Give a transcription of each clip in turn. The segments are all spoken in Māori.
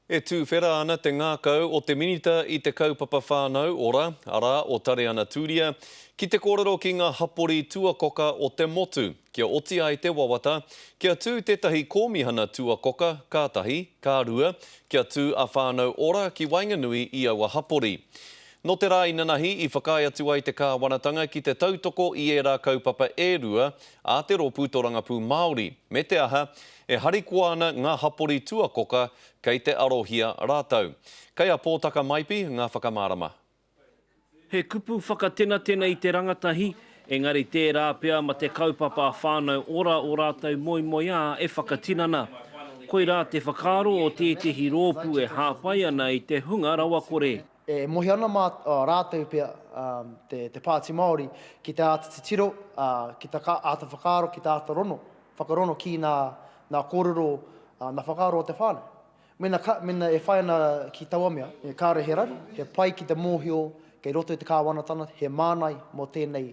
E tūwhera ana te ngākau o te Minita i te Kaupapa Whānau Ora, arā, o Tareana Tūria, ki te kōrero ki ngā hapori tuakoka o te motu, kia oti ai te wawata, kia tū tētahi kōmihana tuakoka, ka tahi, ka rua, kia tū a Whānau Ora ki waenganui i aua hapori. Nō te rā inanahi i whakaae atu ai te Kāwanatanga ki te tautoko i ērā kaupapa e rua a te rōpū torangapū Māori, me te aha, E harikoa ana ngā hapori tuakoka kei te arohia rātou. Kei a Pōtaka Maipi ngā whakamārama. He kupu whakatenatena i te rangatahi, engari tērā pea ma te kaupapa whānau ora o rātou moemoeā e whakatinana. Koirā te whakaaro o tētehi rōpū e hāpai ana i te hunga rawakore. E mohi ana mā rātou pea te Pāti Māori ki te āta titiro, ki te āta whakaaro, ki te āta rono, whakarono ki ngā kōrero, ngā whakaaro o te whānau. Mēnā e whai ana ki taua mea, kāore he raru, he pai ki te mōhio kei roto i te Kāwanatanga he mānai mō tēnei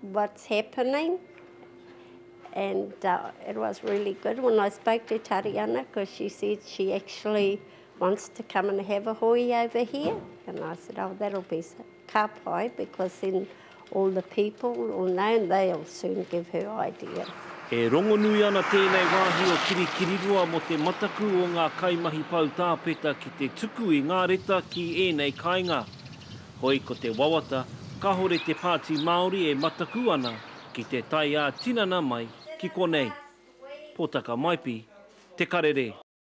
what's happening. And uh, it was really good when I spoke to Tariana because she said she actually wants to come and have a hui over here. And I said, oh, that'll be ka pai because then all the people will know and they'll soon give her idea. E rongonui ana tēnei wāhi o Kirikiriroa mo te mataku o ngā kaimahi poutāpeta ki te tuku i ngā reta ki ēnei kāinga. Hoi ko te wawata, kahore te Pāti Māori e matakū ana ki te tae ā-tinana mai ki konei. Potaka Maipi, Te Karere.